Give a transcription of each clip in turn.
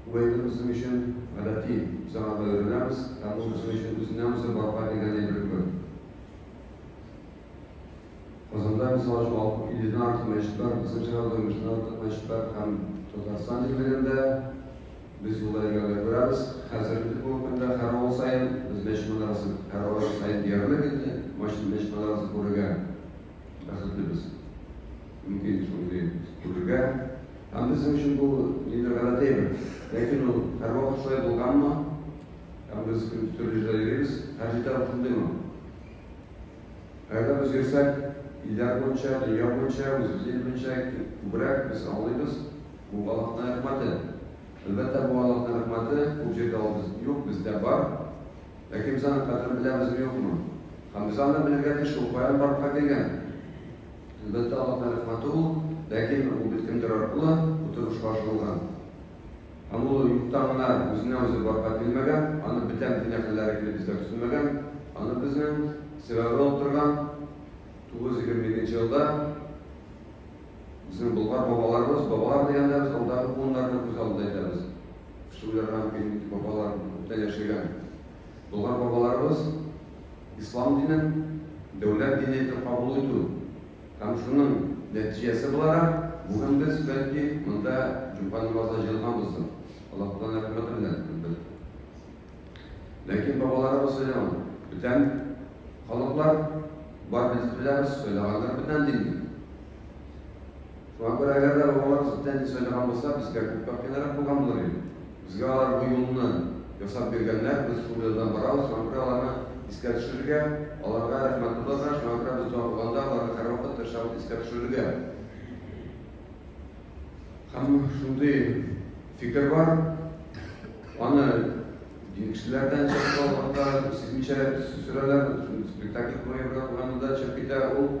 Бу әйбер безнең өчен гадәти, без аңа да өйрәнәбез, һәм ул безнең өчен үзеннән-үзе барлыкка килгән әйбер кебек. Казанда, мисал өчен, алып илледән артык мәчет бар, безнең шәһәрдә унбиштән артык мәчет бар һәм Татарстан җирлегендә без юлда йөргәндә күрәбез, хәзер инде бүгенге көндә һәр авыл саен без мәчет манарасы, һәр авыл саен диярлек инде мәчет мәчет манарасы күрергә бәхетлебез. Мөмкин шундый түгелгә. Һәм безнең өчен бу инде гадәтеме? Ләкин ул һәрвакыт шулай булганмы? Һәм без төрле җирдә йөрибез, һәр җирдә ул шундыймы? Кайда без йөрсәк, илләр буенча, дөнья буенча, үзебез ил буенча күбрәк без аңлыйбыз, бу Аллаһның рәхмәте. Әлбәттә, бу Аллаһның рәхмәте, күп җирдә ул без юк, бездә бар. Ләкин без аның кадерен беләбезме, юкмы? Һәм без аны белергә тиеш, ул каян барлыкка килгән? Әлбәттә, алар тарихлаты ул, ләкин ул бит кемдер аркылы утырышка ашырылган. Һәм ул юктан гына үзенә үзе барга килмәгән, аны бетәм дигән хәлләре килеп безгә төсенмәгән, аны безнең сәбәбе оттырган 922 елда безнең Болгар бабаларыбыз, бабалар дигәндә без алдагы буыннарны күз алдында итәбез. Шул ярга килеп бабалар күптән яшәгән. Болгар бабаларыбыз ислам динен дәүләт дине итеп кабул итү һәм шуның нәтиҗәсе буларак, бүген без, бәлки, монда җомга намазына җыелганбыздыр, Аллаһудан рәхмәте белән, әлбәттә. Ләкин бабаларыбыз сөйлаган, бүтән халыклар бар без беләбез, сөйлаганнар бүтән динне. Шуңа күрә әгәр дә бабалар читтән ир сайлаган булса, безгә күп тап кыйнарак булган булыр иде. Безгә алар бу юлны ясап биргәннәр, без шул юлдан барабыз, шуңа күрә аларны искә төшерергә, аларга рәхмәт тотарга, шуңа күрә без дога кылганда аларны һәрвакыт тырышабыз искә төшерергә. Һәм шундый фикер бар, аны дин кешеләрдән чыгып алганда, сизмичә сүрәләр, спектакль куеп куйганда чыгып китә ул.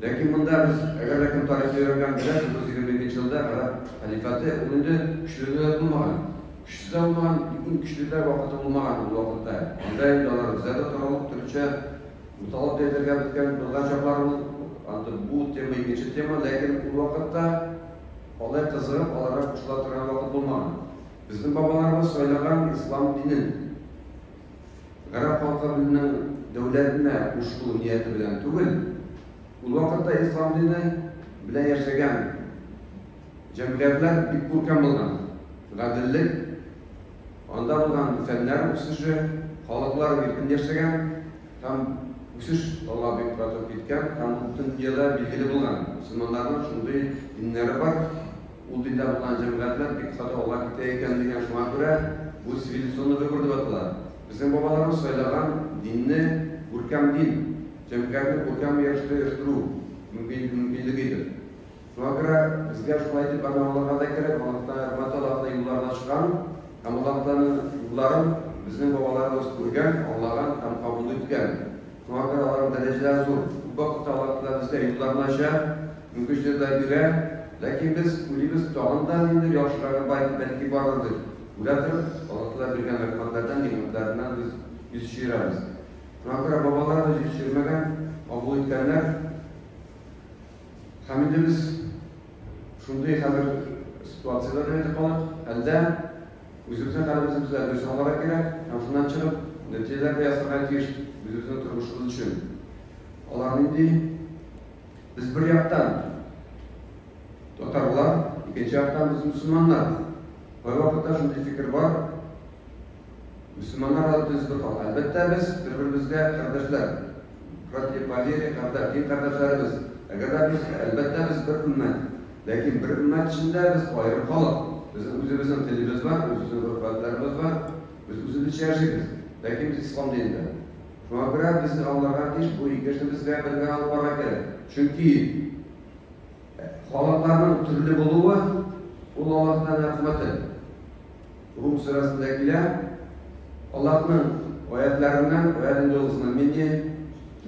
Ләкин монда без, әгәр дә кем тарихны өйрәнгәнен беләсез, 122 нчы елда гарәп хәлифәте, ул инде көчлеләр булмаган. Көчсез дә булмаган, иң көчлеләр вакыты булмаган ул вакытта. Анда инде алар үзләре дә таралып, төрлечә буталып та әйтергә беткән булган чаклар ул. Анда бу тема икенче тема, ләкин ул вакытта алай кызыгып аларга кушыла торган вакыт булмаган. Безнең бабаларыбыз сайлаган ислам динен. гарәп халкы безнең дәүләтне кушу нияте белән түгел, ул вакытта ислам дине белән яшәгән җәмгыятьләр бик күркәм булган. Гаделлек, анда булган фәннәр үсеше, халыклар иркен яшәгән һәм үсеш алга бик тартып киткән һәм бөтен дөньяда билгеле булган. Мөселманнарның шундый диннәре бар. Ул диндә булган җәмгыятьләр бик каты алга китә икән дигән, шуңа күрә бу цивилизационный выбор дип атала. Безнең бабаларыбыз сайлаган динне күркәм дин, җәмгыятьне күркәм рәвештә оештыру мөмкинлеге иде. Шуңа күрә безгә шулай итеп гармауларга да кирәк, Аллаһтан рәхмәт алабыз да юлларына чыгам һәм Аллаһтанын юлларын безнең бабаларыбыз күргән, аңлаган һәм кабул иткән. Шуңа күрә аларның дәрәҗәләре зур. Күп вакытта алар безгә юлларны ача. Үкенечле дә бирә, ләкин без уйлыйбыз, тагын да ниндидер яхшырагы бар иде, бәлки бардыр дип. Үлә торып, Аллаһтаала биргән рәхмәтләрдән, нигъмәтләреннән без йөз чөерәбез. Шуңа күрә бабалар да йөз чөермәгән, кабул иткәннәр. Һәм инде без шундый хәзер ситуациядә генә итеп калдык. Әлдә, үзебезнең хәлебезне без дә дөрес аңларга кирәк һәм шуннан чыгып, нәтиҗәләр дә ясарга тиеш үзебезнең тормышыбыз өчен. Алар нинди? Без бер яктан татарлар, икенче яктан без мөселманнар. Кайвакытта шундый фикер бар. Мөселманнар да төз бер кала. Әлбәттә без бер-беребезгә кардәшләр. Братья по вере, кардәш, дин кардәшләребез. Әгәр дә без, әлбәттә без бер өммәт. Ләкин бер өммәт эчендә без аерым халык. Безнең үзебезнең телебез бар, үзебезнең гореф-гадәтләребез бар. Без үзебезчә яшибез. Ләкин без ислам динендә. Шуңа күрә без аларга тиеш бу ике эшне безгә бергә алып барырга кирәк. Чөнки халыкларның төрле булуы ул Аллаһның рәхмәте. Рум сүрәсендә килә, Аллаһның аятларыннан, аят инде ул знамение,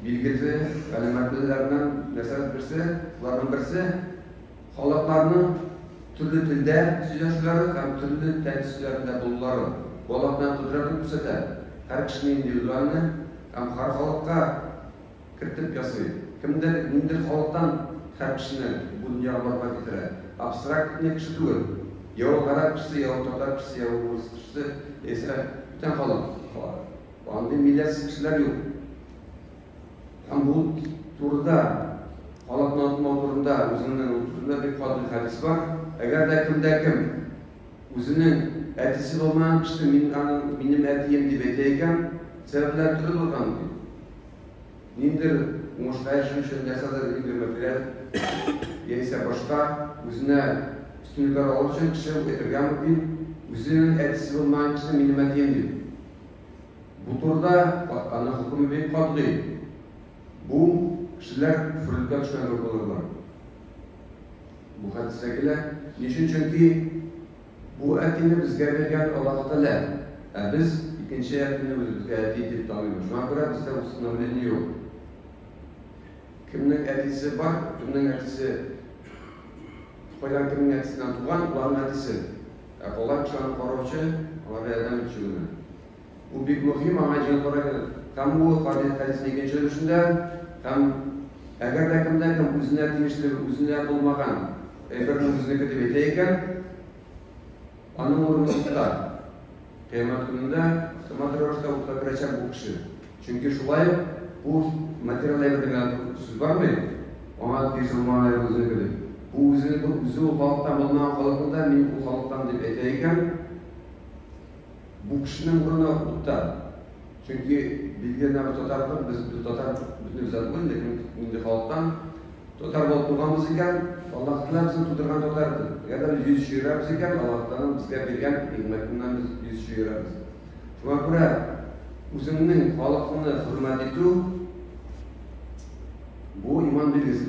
билгесе, галәмәтләреннән нәрсә берсе, аларның берсе Халыкларның төрле телдә сөйләшүләре һәм төрле тән төсләрендә булулары бала белән кодрәтен күрсәтә, һәр кешене индивидуальны һәм һәр халыкка кертеп ясый. Кемдер ниндидер халыктан һәр кешене бу дөньяга барлыкка китерә. Абстракт не кеше түгел. Я ул гарәп кешесе, я ул татар кешесе, я ул урыс кешесе, яисә бүтән халык. Андый милләтсез кешеләр юк. Һәм бу турыда халык мавтымау турында үзеннән утырында бик каты хәдис бар. Әгәр дә кемдә кем үзенең әтисе булмаган кеше мин аның минем әтием дип әйтә икән, сәбәпләр төрле булган бит. Ниндер уңышка ирешү өчен нәрсәдер ниндер материаль яисә башка үзенә өстенлекләр алу өчен кеше әйтергә мөмкин, үзенең әтисе булмаган кеше минем әтием дип. Бу турыда аның хөкеме бик катгый. Бу кешеләр фрольдка төшкән кебек булырлар. Бу хәдистә килә. Ни өчен? Чөнки бу әтине безгә биргән Аллаһу Тәгалә. Ә без икенче әтине үзебезгә әти итеп таныйбыз. Шуңа күрә бездә усыновление юк. Кемнең әтисе бар, кемнең әтисе Кайдан кемнең әтисеннән туган, ул аның әтисе. Ә калай кеше аны караучы, аңарга ярдәм итүче генә. Бу бик мөһим, аңа җиңел карарга кирәк. Һәм бу Кабил хәдисенең икенче өлешендә һәм Әгәр дә кемдә-кем үзенә тиешле, үзенә булмаган әйберне үзенеке дип әйтә икән, Аның урыны утта. Кыямәт көнендә автомат рәвештә утка керәчәк бу кеше. Чөнки шулай ук бу материал әйбердә генә сүз бармый. Аңа тиз булмаган әйбер үзенеке дип. Бу үзе бу үзе ул халыктан булмаган халыкны да мин бу халыктан дип әйтә икән. Бу кешенең урыны утта. Чөнки Бельгия нәкъ татар кыз, без бит татар бөтенебез дә түгел, ләкин инде халыктан татар булып туганбыз икән, Аллаһ Тәгалә безне тудырган татар итеп. Әгәр дә йөз чөерәбез икән, Аллаһ Тәгаләнең безгә биргән нигъмәтеннән без йөз чөерәбез. Шуңа күрә үзеңнең халыкыңны хөрмәт итү бу иман билгесе.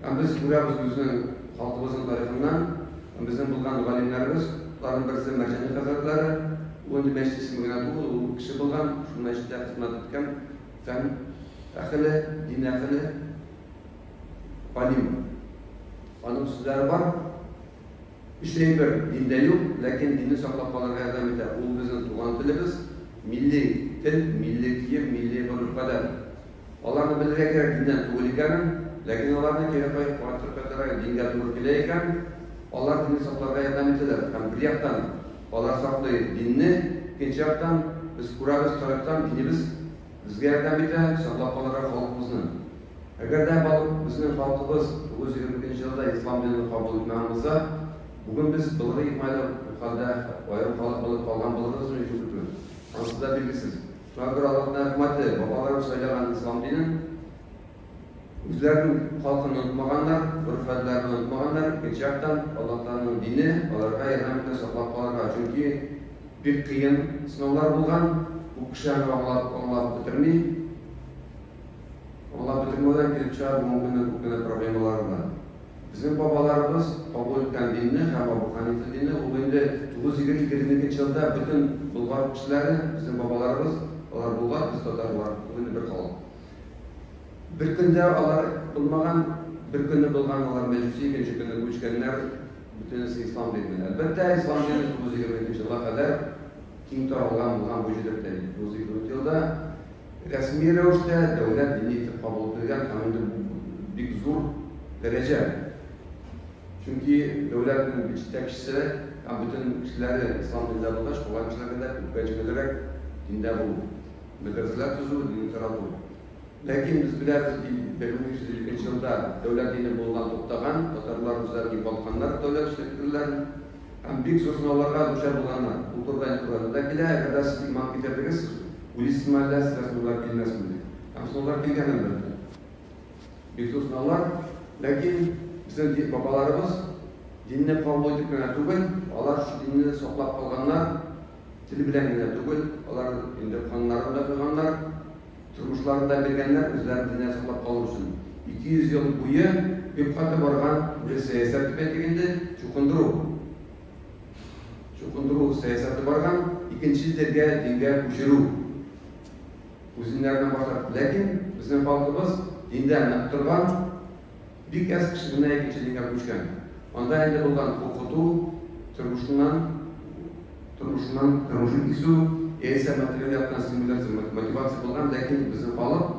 Ә без күрәбез безнең халкыбызның тарихыннан, безнең булган галимнәребез, аларның берсе Мәрҗани хәзрәтләре, ул инде мәчет исеме генә түгел, ул кеше булган, шул мәчеттә хезмәт иткән, фән әхеле, дин әхеле, галим. Аның сүзләре бар. Өч әйбер диндә юк, ләкин динне саклап калырга ярдәм итә. Ул безнең туган телебез, милли тел, милли кием, милли гореф-гадәт. Аларны белергә кирәк диннән түгел икәнен, ләкин аларны кире каеп кайтып кайтарга дингә туры килә икән, алар динне сакларга ярдәм итәләр һәм бер яктан алар саклый динне, икенче яктан без күрәбез тарихтан динебез безгә ярдәм итә саклап калырга халкыбызны. Әгәр дә халык безнең халкыбыз 922 елда ислам динен кабул итмәгән булса, бүген без былгы икмәле хәлдә аерым халык булып калган булырбызмы икән, ансыз да билгесез. Шуңа күрә аларның рәхмәтле, бабалары сайлаган ислам динен, үзләренең халкын онытмаганнар, гореф-гадәтләрен онытмаганнар, икенче яктан, Аллаһтаның дине аларга ярдәм итә саклап калырга, чөнки бик кыен сынаулар булган, күп кеше аны аңлап, аңлап бетерми. Аңлап бетермәүдән килеп чыга бүгенге көннең күп кенә проблемалары да. Безнең бабаларыбыз, Абу ат-Тәмвинне һәм Абу Хәнифәддинне, ул инде 922 нче елда бөтен Болгар кешеләре, безнең бабаларыбыз, алар Болгар, без татарлар, ул инде бер халык. Бер көндә алар булмаган, бер көнне булган, алар мәҗүси, икенче көнне күчкәннәр, бөтенесе ислам диненә. Әлбәттә, ислам дине 922 нче елга кадәр киң таралган булган бу җирдә, 922 елда. Рәсми рәвештә дәүләт дине итеп кабул ителгән һәм инде бик зур дәрәҗә. Чөнки дәүләтнең бит җитәкчесе һәм бөтен кешеләре ислам диндә булгач, калган кешеләргә дә күпкә җиңелрәк диндә булу, мәдрәсәләр төзү, динне тарату. Ләкин без беләбез, ди, 1552 елда дәүләт дине булудан туктаган, татарлар үзләрен югалтканнар дәүләт җитәкчеләрен һәм бик зур сынауларга дучар булганнар. Бу турыда инде Коръәндә дә килә, әгәр дә сез иман китердегез, сез Уйс мәлләс рәсмуллар килмәсмени? Рәсмуллар килгән әлбәттә. Бик тусналар, ләкин безнең бабаларыбыз динне кабул итеп кенә түгел, алар шул динне саклап калганнар, тел белән генә түгел, алар инде каннарын да койганнар, тормышларын да биргәннәр үзләрен динне саклап калу өчен. 200 ел буе бик каты барган бер сәясәт дип әйтик инде, чукындыру. чукындыру сәясәте барган, икенче телгә, дингә күчерү үзеннәренә башлап. Ләкин безнең халкыбыз диндә нык торган, бик әз кеше генә икенче дингә күчкән. Анда инде булган укыту, тормышыннан, тормышыннан, тормышын кисү, яисә материаль яктан стимуляция, мотивация булган, ләкин безнең халык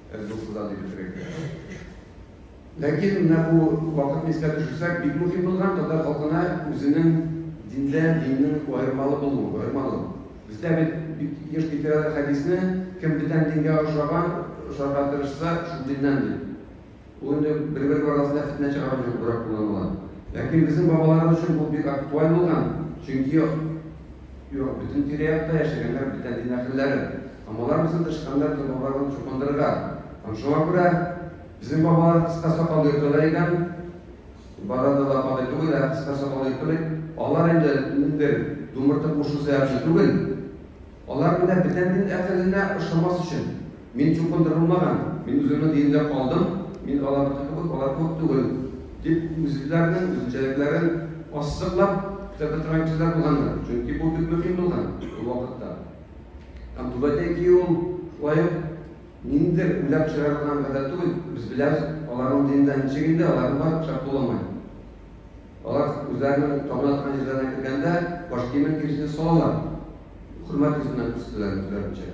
Без дусыза дип бетерик. Ләкин менә бу вакытны искә төшерсәк, бик мөһим булган татар халкына үзенең диндә диннең аермалы булуы, аермалы. Бездә бит бик еш китерәләр хәдисне, кем бүтән дингә охшаган, охшарга тырышса, шул диннән дип. Ул инде бер-бер арасында фетнә чыгару өчен күбрәк кулланыла. Ләкин безнең бабаларыбыз өчен бу бик актуаль булган, чөнки юк, бөтен тирә-якта яшәгәннәр бүтән дин әһелләре. Һәм алар безнең тычканнар кебек бабаларны чукындырган. Һәм шуңа күрә безнең бабалар кыска сакал йөртәләр икән, барада да кадәр түгел, ә кыска сакал йөртәләр. Алар инде ниндер думыртып кушу сәбәпле түгел. Алар менә бүтән дин әһеленә ошамас өчен. Мин чукындырылмаган, мин үземнең диндә калдым, мин аларныкы кебек, алар кебек түгел, дип үзләренең үзенчәлекләрен ассыклап китә торган кешеләр булганнар. Чөнки бу бик мөһим булган ул вакытта. Там туда идем, лаем, ниндер үләп чыгарылган гадәт түгел, без беләбез, аларның динендә ничек инде, аларның бар пычак кулламай. Алар үзләренең табына торган җирләренә кергәндә, баш киемен тиресенә салалар. Хөрмәт йөзеннән күрсәтәләр үзләренчә.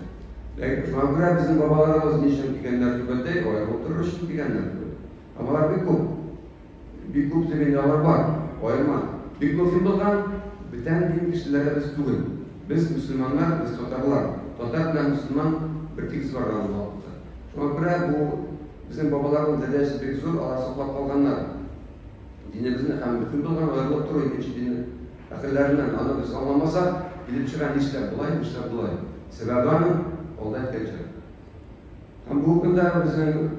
Ләкин шуңа күрә безнең бабаларыбыз ни өчен дигәннәр түбәтәй, алар утырыр өчен дигәннәр. Алар бик күп. Бик күп дигәндә алар бар, аерма. Бик мөһим булган бүтән дин кешеләре без түгел. Без мөселманнар, без татарлар. Татар белән мөселман бер тигез барган ул вакытта. Шуңа күрә бу безнең бабаларның дәрәҗәсе бик зур, алар саклап калганнар. Динебезне һәм мөһим булган аерылып тору икенче дин әһелләреннән. Аны без аңламасак, килеп чыга нишләп болай, нишләп болай. Сәбәбе аның алда әйткәнчә. Һәм бүгенге көндә безнең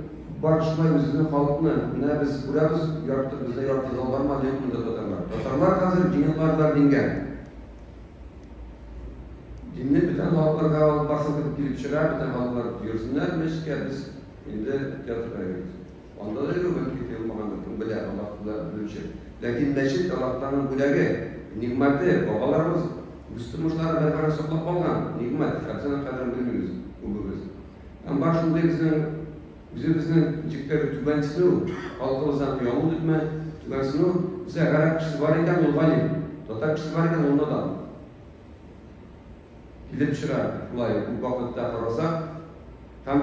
бар шулай үзебезнең халыкны, менә без күрәбез, ярты бездә ярты зал бармы, әллә юкмы да татарлар. Татарлар хәзер динен кардылар дингә. Динне бөтен халыкларга алып барсын дип килеп чыга, бөтен халыклар йөрсеннәр мәчеткә, без инде театрга йөрибез. Анда да ремонт китерелмагандыр, кем белә, Аллаһ кына белүче. Ләкин мәчет Аллаһтагы бүләге, нигъмәте, бабаларыбыз үз тормышлары бәрхарап саклап калган нигъмәт, һәм соңына кадәр белмибез күбебез. Һәм бар шундый безнең үзебезнең ничектер түбәнсенү, халкыбыздан оялу димме, түбәнсенү, бездә гарәп кешесе бар икән, ул галим, татар кешесе бар икән, ул надан. Килеп чыга, шулай күп вакытта карасак, һәм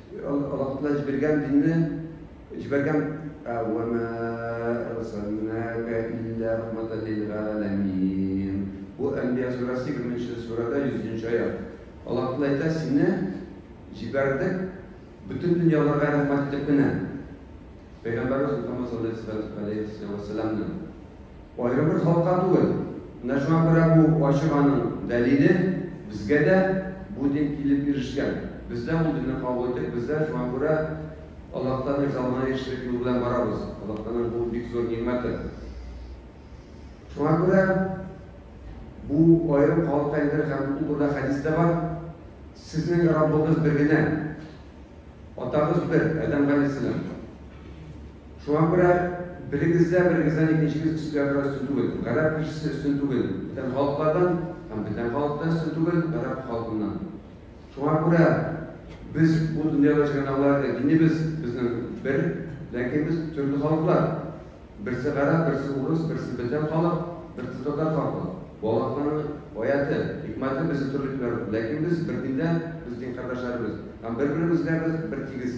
Аллаһ Тәгалә җибәргән динне җибәргән әвәмә арсалнака илля рахматан лил галәмин. Бу Әнбия сүрәсе 20-нче сүрәдә 100-нче аят. Аллаһ Тәгалә әйтә, сине җибәрдек бөтен дөньяларга рәхмәт итеп кенә. Пәйгамбәрбез Мөхәммәд саллаллаһу алейһи ва саллямны Аерым бер халыкка түгел, менә шуңа күрә бу фаҗиганың дәлиле безгә дә бу дин килеп ирешкән. Без дә ул динне кабул иттек, без дә шуңа күрә Аллаһтан ризалыгына ирешерлек юл белән барабыз. Аллаһтан бу бик зур нигъмәте. Шуңа күрә бу аерым халык әйтер һәм бу турыда хәдис тә бар. Сезнең Раббыгыз бер генә. Атагыз бер, Адәм галәйһиссәлам. Шуңа күрә берегездә берегездән икенчегез өстә бераз өстен түгел. Гарәп кешесе өстен түгел. Бүтән халыклардан һәм бүтән халыктан өстен түгел гарәп халкыннан. Шуңа күрә без бу дөньяда җөргән аларда динебез безнең бер, ләкин без төрле халыклар. Берсе гарәп, берсе урыс, берсе бүтән халык, берсе татар халкы. Балакның аяты, хикмәте без төрле күрәбез, ләкин без бер диндә, без дин кардәшләребез. Һәм бер-беребезгә без бер тигез.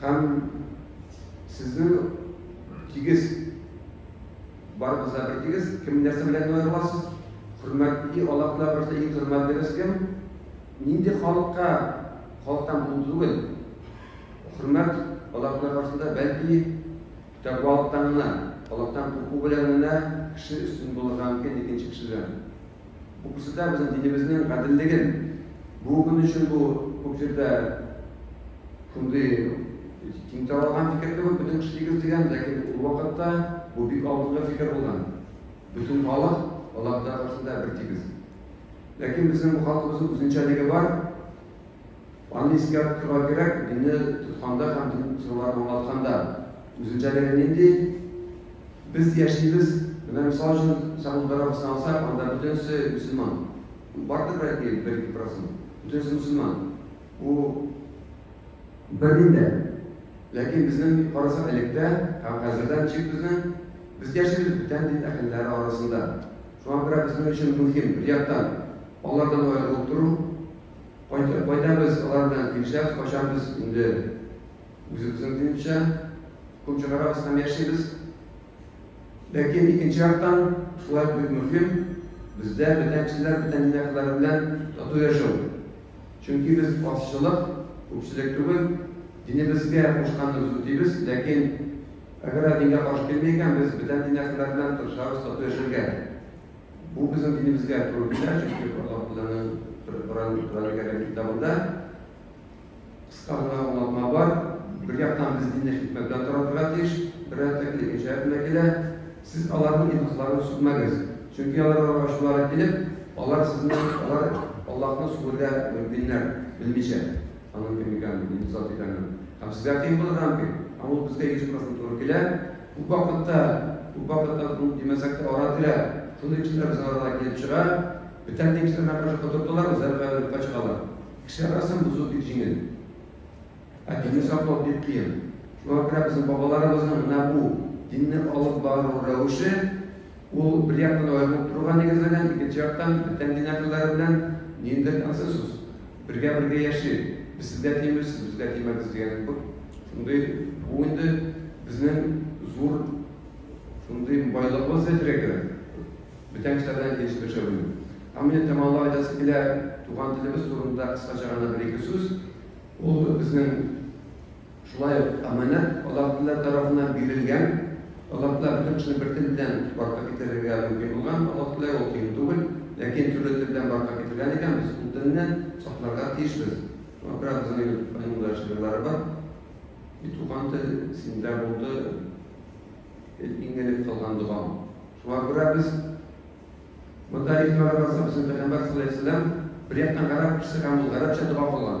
Һәм сезнең тигез, барыбыз да бер тигез, кем нәрсә белән аерыласыз? Хөрмәтле Аллаһ Тәгалә бирсә, иң хөрмәтлегез кем? Нинди халыкка халыктан бул түгел? Хөрмәт Аллаһ Тәгалә каршында бәлки тәкъвалыктан гына, Аллаһтан курку белән генә кеше өстен булырга мөмкин икенче кешедән. Бу күрсәтә безнең динебезнең гаделлеген. Бу көн өчен бу күп җирдә шундый киң таралган фикер кебек, бөтен кеше тигез дигән, ләкин ул вакытта бу бик алдынгы фикер булган. Бөтен халык Аллаһ Тәгалә каршында бер тигез. Ләкин безнең бу халкыбызның үзенчәлеге бар. Аны искәртергә кирәк, динне тотканда һәм дин сырларын аңлатканда, үзенчәлеге нинди? Без яшибез, менә мисал өчен Сәгуд Гарәбистаны алсак, анда бөтенесе мөселман. Бардыр бәлки бер-ике процент. Бөтенесе мөселман. Бу бер дин дә. Ләкин безнең карасак электә һәм хәзердә ничек безнең? Без яшибез бүтән дин әһелләре арасында. Шуңа күрә безнең өчен мөһим, бер яктан, алардан аерылып тору, Кайтып кайтабыз алар белән нишләп качабыз инде үзебезнең димчә кул чыгарабыз һәм яшибез. Ләкин икенче яктан шулай бик мөһим бездә бүтән кешеләр бүтән динәкләр белән тату яшәү. Чөнки без азчылык, күпчелек түгел, динебезгә кушканыбыз үтибез, ләкин әгәр динга каршы килми икән, без бүтән динәкләр белән тырышабыз тату яшәргә. Бу безнең динебезгә туры килә, чөнки Аллаһ Тәгаләнең Коръән Кәрим китабында кыска гына аңлатма бар. Бер яктан без динне хикмәт белән таратырга тиеш, бер яктан икенче аятында килә, сез аларның илһатларын сүтмәгез, чөнки аларга ачулары килеп, алар сезне алар Аллаһны сүгергә мөмкиннәр, белмичә аның кем икәнен, нинди зат икәнен. Һәм сезгә кыен булырга мөмкин. Һәм ул безгә 100% туры килә. Күп вакытта, күп вакытта бу димәсәктә ара-тирә шундый кешеләр безнең арада килеп чыга, бүтән дин кешеләренә каршы котыртулар, үзләре белән юкка чыгалар. Кешеләр арасын бозу бик җиңел. Ә динне саклау бик кыен. Шуңа күрә безнең бабаларыбызның менә бу динне алып бару рәвеше ул бер яктан аерылып торуга нигезләнгән, икенче яктан бүтән дин әһелләре белән ниндидер консенсус. Бергә бергә яшик, без сезгә тимибез, сез безгә тимәгез дигән кебек шундый бу инде безнең зур шундый байлыгыбыз дип әйтергә Бүтән кешеләрдән килеш яшәү. Ә менә тәмамлап әйтәсе килә, туган телебез турында кыскача гына бер-ике сүз. Ул безнең Шулай ук Аманәт азатлылар тарафыннан бирелгән азатлар бөтен кешене бер тел белән барлыкка китерергә мөмкин булган азатлык ул кыен түгел, ләкин төрле тел белән барлыкка китергән икән, без ул телне сакларга тиешбез. Шуңа күрә безнең Илтукайның да шигырьләре бар. И туган тел, синдә булды иң элек кылган догам. Шуңа күрә без монда игътибар кылсак, безнең Пәйгамбәр саллаллаһу алейһи ва сәлләм бер яктан гарәп кешесе һәм ул гарәпчә дога кылган.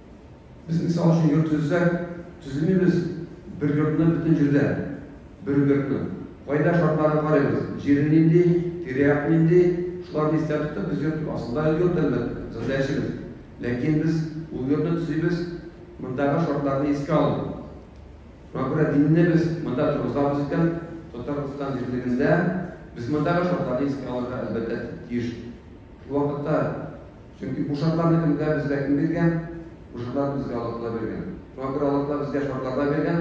Без, мисал өчен, йорт төзсәк, төземибез бер йортны бөтен җирдә, бер үбекне. Кайда шартларын карыйбыз, җире нинди, тирә-як нинди, шуларны истә тотып, без йорт астында йорт әлбәттә, зырда яшибез. Ләкин без ул йортны төзибез, мондагы шартларны искә алып. Шуңа күрә динне без монда торгызабыз икән, Татарстан җирлегендә без мондагы шартларны искә алырга әлбәттә тиеш. Шул вакытта Чөнки бу шартларны төнлә безгә кем биргән? Бу шартларны безгә Аллаһ Тәгалә биргән. Шуңа күрә Аллаһ Тәгалә безгә шартларда биргән,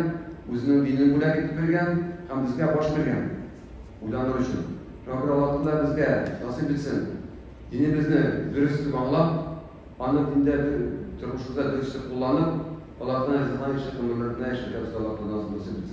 үзенең динен бүләк итеп биргән һәм безгә баш биргән. Уйланыр өчен. Шуңа күрә Аллаһ Тәгалә безгә насыйп итсен, динебезне дөрес итеп аңлап, аны диндә тормышыбызда дөрес итеп кулланып, Аллаһ Тәгалә ризасына ирешеп гомерләрне яшәргә безгә Аллаһ Тәгалә насыйп итсен.